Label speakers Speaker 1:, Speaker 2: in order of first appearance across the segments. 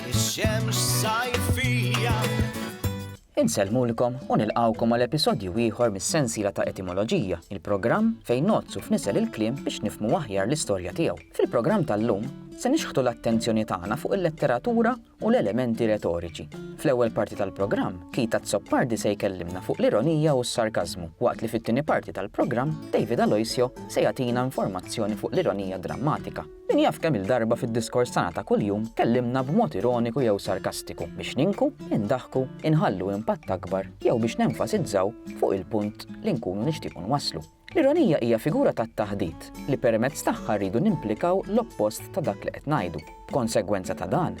Speaker 1: Ix-xemx sajfija.
Speaker 2: Insellmulkom u nilqgħukom għal episodju ieħor mis-sensiela ta' Etimoloġija, il-programm fejn nogħodsu f'nisel il-kliem biex nifhmu aħjar l-istorja tiegħu. Fil-programm tal-lum se nixħtu l-attenzjoni tagħna fuq il-letteratura u l-elementi retoriċi. Fl-ewwel parti tal-programm, Kita Zoppardi se jkellimna fuq l-ironija u s-sarkażmu, waqt li fit-tieni parti tal-programm, David Aloisio se jagħtina informazzjoni fuq l-ironija drammatika. Min jaf kemm-il darba fid-diskors tagħna ta' kuljum tkellimna b'mod ironiku jew sarkastiku biex ninku, indaħħku, inħallu impatt akbar jew biex nenfasizzaw fuq il-punt li nkunu nixtiequ nwasslu. L-ironija hija figura tat-taħdit li permezz tagħha rridu nimplikaw l-oppost ta' dak li qed ngħidu. B'konsegwenza ta' dan,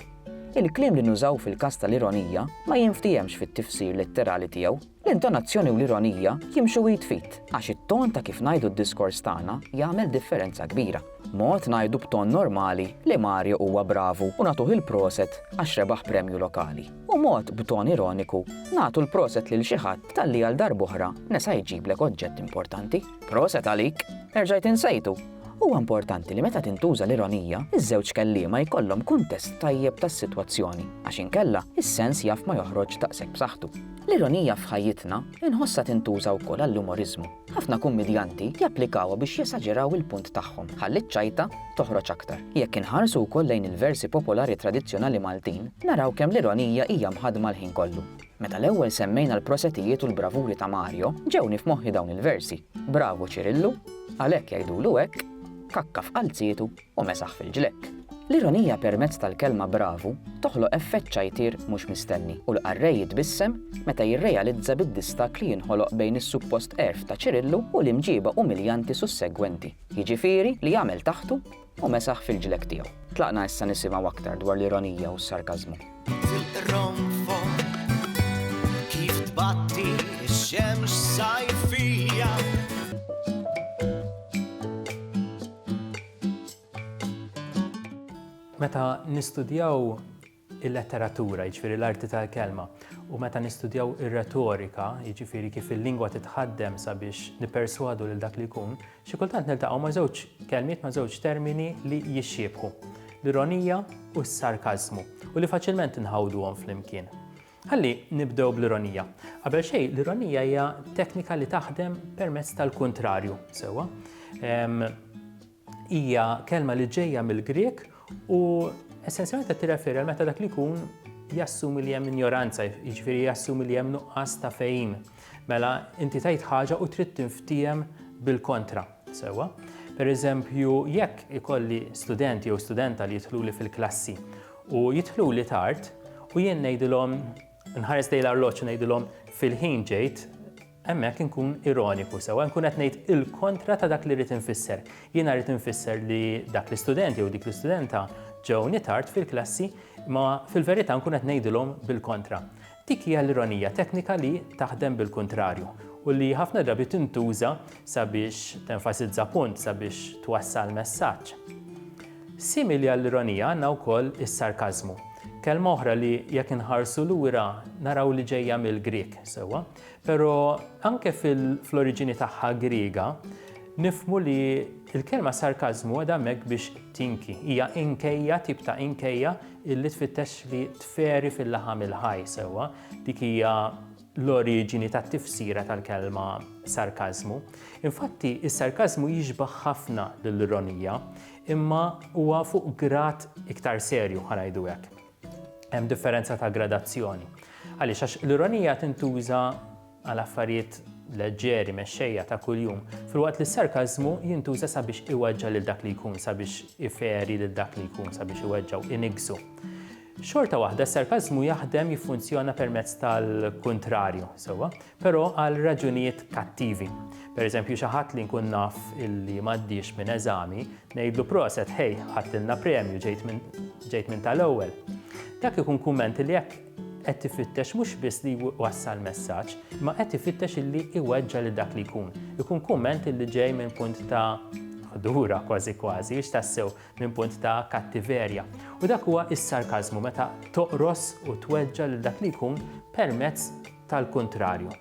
Speaker 2: il-kliem li nużaw fil-każ tal-ironija ma jinftihemx fit-tifsir letterali tiegħu. L-intonazzjoni u l-ironija jimxu id f'id, għax it-ton ta' kif ngħidu d-diskors tagħna jagħmel differenza kbira. Mod ngħidu b'ton normali li Mario huwa bravu u nagħtuh il-proset għax rebaħ premju lokali, u mod b'ton ironiku nagħtu l-proset lil xi ħadd talli għal darb'oħra nesa jġiblek oġġett importanti. Proset għalik! Erġajt insejtu! Huwa importanti li meta tintuża l-ironija, iż-żewġ kelliema jkollhom kuntest tajjeb tas-sitwazzjoni, għax inkella, is-sens jaf ma joħroġx daqshekk b'saħħtu. L-ironija f'ħajjitna inħossha tintuża wkoll għall-umoriżmu. Ħafna kummidjanti japplikawha biex jesaġeraw il-punt tagħhom, ħalli ċ-ċajta toħroġ aktar. Jekk inħarsu wkoll lejn il-versi popolari tradizzjonali Maltin, naraw kemm l-ironija hija mħaddma l-ħin kollu. Meta l-ewwel semmejna l-prosetijiet u l-bravuri ta' Mario, ġewni f'moħħi dawn il-versi, Bravu Ċirillu, għalhekk jgħidulu hekk, kakka f'qalzietu. u mesaħ fil-ġlekk. L-ironija permezz tal-kelma bravu toħloq effett ċajtier mhux mistenni u l-qarrej jitbissem meta jirrealizza bid-distakk li jinħoloq bejn is-suppost għerf ta' Ċirillu u l-imġiba umiljanti sussegwenti, jiġifieri li għamel taħtu u mesaħ fil-ġlekk tiegħu. Tlaqna issa nisimgħu aktar dwar l-ironija u s-sarkażmu.
Speaker 3: Meta nistudjaw il-letteratura, jiġifieri l-arti tal-kelma, u meta nistudjaw ir-retorika, jiġifieri kif il-lingwa titħaddem sabiex nipperswadu lil dak li jkun, Xi kultant niltaqgħu ma' żewġ kelmiet ma' żewġ termini li jixxiebħu, l-ironija u s-sarkażmu, u li faċilment inħawduhom flimkien. Ħalli nibdew bl-ironija. Qabel xejn, l-ironija hija teknika li taħdem permezz tal-kuntrarju, sewwa. Hija kelma li ġejja mill-Grek u essenzjalment qed tirreferi għal meta dak li jkun jassumi li hemm injoranza, jiġifieri jassumi li hemm nuqqas ta' fejn. Mela, inti tgħid ħaġa u trid tinftiehem bil-kontra, sewwa. Per eżempju, jekk ikolli studenti jew studenta li jidħluli fil-klassi u jidħluli tard u jien ngħidilhom nħares lejn l-arloġġ u ngħidilhom fil-ħin ġejt, hemmhekk inkun ironiku sewwa, nkun qed ngħid il-kontra ta' dak li rrid infisser. Jiena rrid infisser li dak l-istudenti jew dik l-istudenta ġewni tard fil-klassi, ma fil-verità nkun qed ngħidilhom bil-kontra. Dik hija l-ironija teknika li taħdem bil-kuntrarju u li ħafna drabi tintuża sabiex tenfasizza punt, sabiex twassal messaġġ. Simili għall-ironija għandna wkoll is-sarkażmu, kelma oħra li jekk inħarsu lura naraw li ġejja mill-Grieg, sewwa, però anke fl-oriġini tagħha Griega nifmu li l-kelma sarkażmu għadha hemmhekk biex tinki, hija inkejja, tip ta' inkejja Illi tfittex li tferi fil-laħam il-ħaj sewwa, dik hija l-oriġini tat-tifsira tal-kelma sarkażmu. Infatti, is-sarkażmu jixbaħ ħafna lill-ironija, imma huwa fuq grad iktar serju ħa ngħidu hekk. Hemm differenza ta' gradazzjoni. Għaliex għax l-ironija tintuża għal affarijiet leġġeri mexxejja ta' kuljum, filwaqt li s-sarkażmu jintuża sabiex iweġġa' lil dak li jkun, sabiex iferi lil dak li jkun, sabiex iweġġgħu, iniggżu. Xorta waħda, s-sarkażmu jaħdem jiffunzjona permezz tal-kuntrarju, sewwa, però għal raġunijiet kattivi. Pereżempju, xi ħadd li nkun naf illi m'għaddiex minn eżami, ngħidlu proset, ħej, ħadtilna premju, ġejt minn tal-ewwel. Dak ikun kumment li jekk qed ifittex mhux biss li jwassal messaġġ, ma qed ifittex illi iweġġa' lil dak li jkun. Ikun kumment illi ġej minn punt ta' ħdura kważi kważi, biex tassew minn punt ta' kattiverja. U dak huwa is-sarkażmu meta toqros u tweġġa' lil dak li jkun permezz tal-kuntrarju.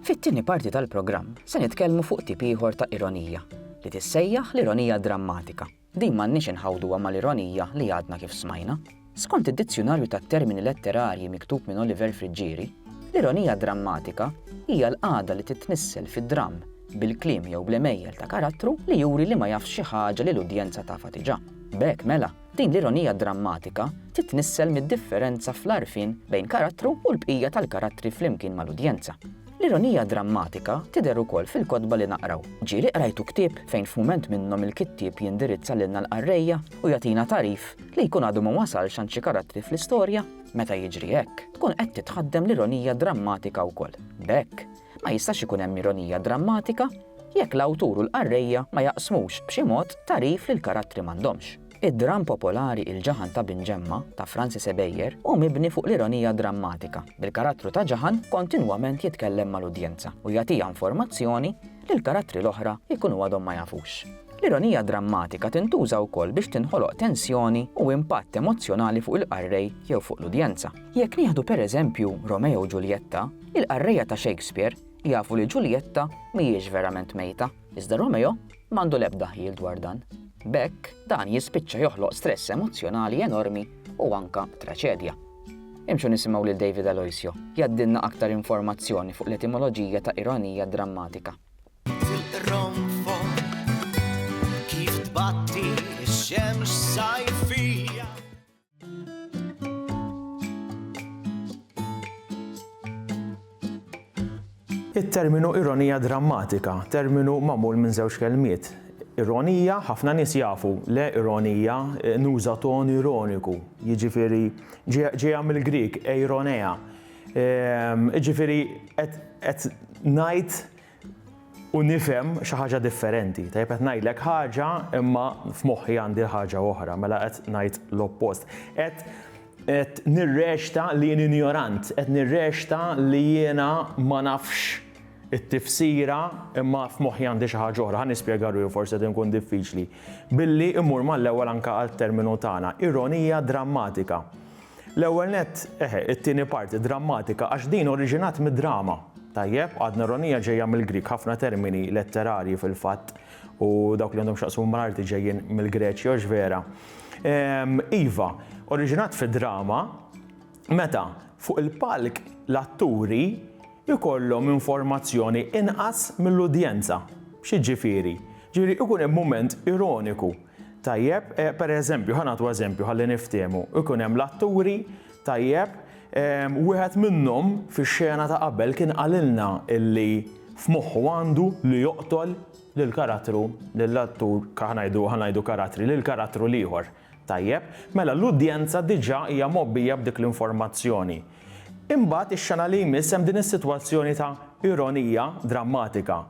Speaker 2: Fit-tieni parti tal-programm se nitkellmu fuq tip ieħor ta' ironija, li tissejjaħ l-ironija drammatika. Din m'għandniex inħawduha mal-ironija li għadna kif smajna. Skont id-Dizzjunarju tat-Termini Letterarji miktub minn Oliver Friggieri, l-ironija drammatika hija l-qagħda li titnissel fi dramm bil-kliem jew bl-għemejjel ta' karattru li juri li ma jafx xi ħaġa li l-udjenza tafha diġà. B'hekk, mela, din l-ironija drammatika titnissel mid-differenza fl-għarfien bejn karattru u l-bqija tal-karattri flimkien mal-udjenza. L-ironija drammatika tidher ukoll fil-kotba li naqraw. Ġieli qrajtu ktieb fejn f'mument minnhom il-kittieb jindirizza lilna l-qarrejja u jagħtina tagħrif li jkun għadu ma wasalx għand xi karattri fl-istorja? Meta jiġri hekk, tkun qed titħaddem l-ironija drammatika wkoll. B'hekk, Ma jistax ikun hemm ironija drammatika jekk l-awtur u l-qarrejja ma jaqsmux, b'xi mod, tagħrif li l-karattri m'għandhomx. Id-dramm popolari Il-Ġaħan ta' Bin Ġemma ta' Francis Ebejer hu mibni fuq l-ironija drammatika, bil-karattru ta' Ġaħan kontinwament jitkellem mal-udjenza u jagħtiha informazzjoni li l-karattri l-oħra jkunu għadhom ma jafux. L-ironija drammatika tintuża wkoll biex tinħoloq tensjoni u impatt emozzjonali fuq il-qarrej jew fuq l-udjenza. Jekk nieħdu pereżempju Romeo u Ġuljetta, Il-qarrejja ta' Shakespeare jafu li Ġuljetta mhijiex verament mejta, iżda Romeo m'għandu l-ebda ħjiel dwar dan. B'hekk, dan jispiċċa joħloq stress emozzjonali enormi u anke traċedja. Imxu nisimgħu lil David Aloisio jgħaddilna aktar informazzjoni fuq l-etimoloġija ta' ironija drammatika.
Speaker 4: It-terminu ironija drammatika, terminu magħmul minn żewġ kelmiet. Ironija, ħafna nies jafu le ironija, eh, nuża ton ironiku, jiġifieri ġejja mill-Grik, eironea. Ehm, jiġifieri qed ngħid u nifhem xi ħaġa differenti. Tajjeb qed ngħidlek ħaġa imma f'moħħi għandi l-ħaġa oħra, mela qed ngħid l-oppost. Qed qed nirrexta li jien injorant, qed nirrexta li jiena ma nafx it-tifsira imma f'moħħi għandi xi ħaġa oħra, ħa nispjega ruħi forsi qed inkun diffiċli. Billi immur mal-ewwel anke għat-terminu tagħna, ironija drammatika. L-ewwel nett, eħe, it-tieni parti drammatika għax din oriġinat mid-drama. Tajjeb, adneronija ġejja mill-Grieg, ħafna termini letterarji fil-fatt u dawk li għandhom x'jaqsmu mal-arti ġejjin mill-Greċi, hux vera? Ehm, iva, oriġinat fid-drama meta fuq il-palk l-atturi jkollhom informazzjoni inqas mill-udjenza. Xi ġifieri? Ġifieri ikun hemm mument ironiku Tajjeb, per eżempju, ħa nagħtu eżempju ħalli niftiehmu, ikun hemm l-atturi, tajjeb, wieħed minnhom fix-xena ta' qabel kien qalilna illi f'moħħu għandu li joqtol lill-karattru, lill-attur, ħa ngħidu, ħa ngħidu karattri, lill-karattru l-ieħor. Tajjeb, mela l-udjenza diġà hija mgħobbija b'dik l-informazzjoni. Imbagħad ix-xena li jmiss hemm din is-sitwazzjoni ta' ironija drammatika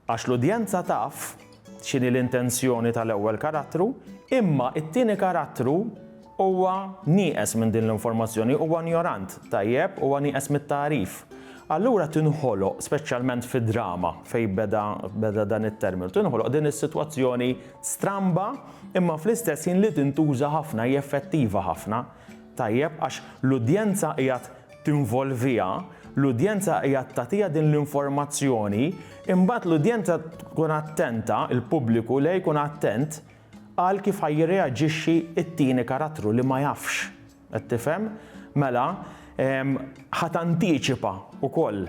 Speaker 4: għax l-udjenza taf, x'inhi l-intenzjoni tal-ewwel karattru, imma t-tieni karattru huwa nieqes minn din l-informazzjoni, huwa injorant, tajjeb, huwa nieqes mit-tagħrif. Allura tinħoloq, speċjalment fid-drama fejn beda beda dan it-terminu, tinħoloq din is-sitwazzjoni stramba imma fl-istess ħin li tintuża ħafna, hija effettiva ħafna, tajjeb, għax l-udjenza qiegħed tinvolviha, l-udjenza qiegħed tagħtiha din l-informazzjoni, imbagħad l-udjenza tkun attenta, il-pubbliku le jkun attent għal kif ħa jirreaġixxi t-tieni karattru li ma jafx. Qed tifhem? Mela, ħa tantiċipa wkoll,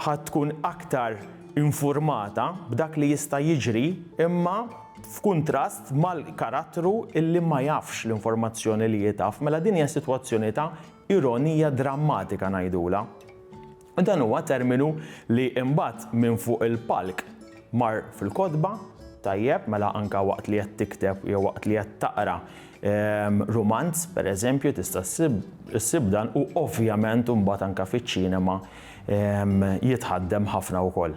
Speaker 4: ħa tkun aktar infurmata b'dak li jista' jiġri imma f'kuntrast mal-karattru illi ma jafx l-informazzjoni li hi taf. Mela din hija sitwazzjoni ta' Ironija drammatika ngħidulha. U dan huwa terminu li imbagħad minn fuq il-palk mar fil-kotba, tajjeb, mela anke waqt li qed tikteb jew waqt li qed taqra rumanz, pereżempju, tista' ssib issib dan u ovvjament imbagħad anke fiċ-ċinema jitħaddem ħafna wkoll.